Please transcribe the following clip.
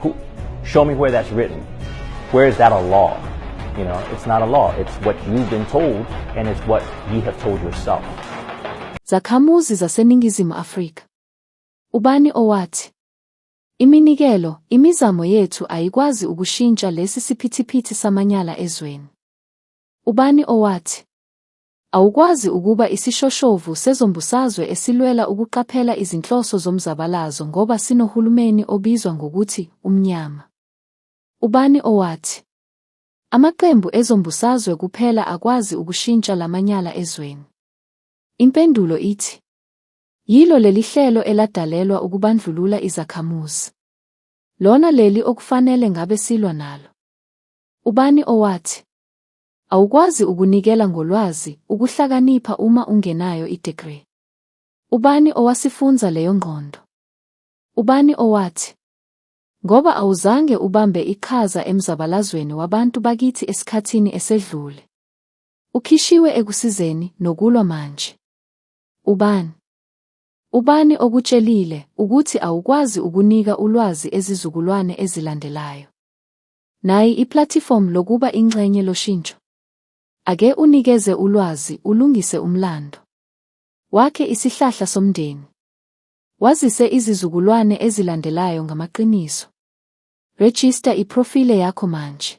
Who, show me where that's written. Where is that a law? You know, it's not a law. It's what you've been told and it's what you have told yourself. Zakhamuzi zaseNingizimu Afrika. Ubani owathi Iminikelo, imizamo yethu ayikwazi ukushintsha lesi siphithiphithi samanyala ezweni. Ubani owathi Awukwazi ukuba isishoshovu sezombusazwe esilwela ukuqaphela izinhloso zomzabalazo ngoba sinohulumeni obizwa ngokuthi umnyama. Ubani owathi? Amaqembu ezombusazwe kuphela akwazi ukushintsha lamanyala ezweni. Impendulo ithi yilo lelihlelo eladalelwa ukubandlulula izakhamuzi. Lona leli okufanele ngabe silwa nalo. Ubani owathi Awukwazi ukunikela ngolwazi, ukuhlakanipha uma ungenayo idegree. Ubani owasifunza leyo ngqondo? Ubani owathi? Ngoba awuzange ubambe iqhaza emzabalazweni wabantu bakithi esikhathini esedlule. Ukhishiwe ekusizeni nokulwa manje. Ubani? Ubani okutshelile ukuthi awukwazi ukunika ulwazi ezizukulwane ezilandelayo? Nayi iplatform lokuba inxenye loshintsho. Ake unikeze ulwazi ulungise umlando. Wakhe isihlahla somndeni. Wazise izizukulwane ezilandelayo ngamaqiniso. Register iprofile yakho manje.